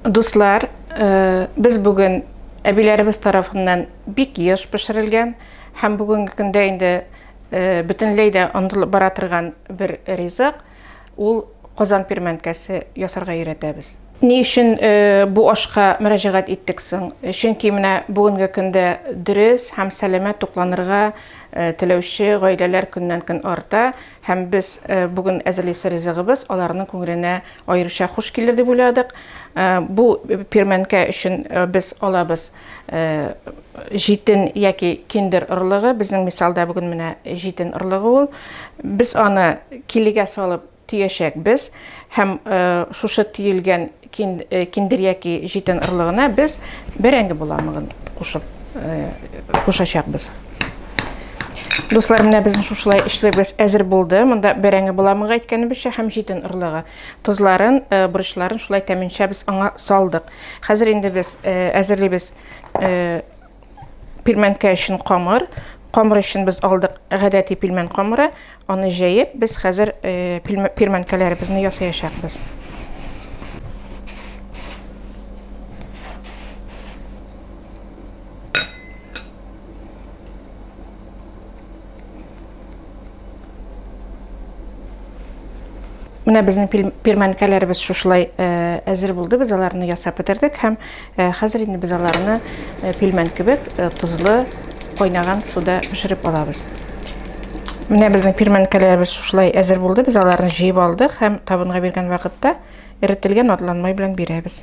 Дуслар, без бүген әбиләребез тарафыннан бик еш пешерелгән һәм бүгенге көндә инде бөтенләй дә онытылып бара торган бер ризык, ул Казан пермәнкәсе ясарга өйрәтәбез. Ни өчен бу ашка мөрәҗәгать иттек соң? Чөнки менә бүгенге көндә дөрес һәм сәламәт тукланырга теләүче гаиләләр көннән-көн арта. Һәм без бүген әзерлисе ризыгыбыз аларның күңеленә аеруча хуш килер дип уйладык. Бу пирмәнкә өчен без алабыз җитен яки киндер орлыгы. Безнең мисалда бүген менә җитен орлыгы ул. Без аны килегә салып төячәкбез һәм шушы төелгән киндер яки җитен орлыгына без бәрәңге боламыгын кушып кушачакбыз. Дуслар, менә безнең шушылай эшләбез әзер булды. Монда бәрәңге боламыгы әйткәнебезчә һәм җитен орлыгы. Тозларын, борычларын шулай тәминчә без аңа салдык. Хәзер инде без әзерлибез пилмәнкә өчен камыр. Камыр өчен без алдык гадәти пилмән камыры. Аны җәеп, без хәзер э, пилмәнкәләребезне ясаячакбыз. Менә безнең пирмәнкәләребез шушылай э, әзер булды. Без аларны ясап бетердек һәм Ә хәзер инде без аларны пилмән кебек тозлы кайнаган суда пешереп алабыз. Менә безнең пилмәнкәләребез шушылай әзер булды. Без аларны җыеп алдык һәм табынга биргән вакытта эретелгән атлан май белән бирәбез.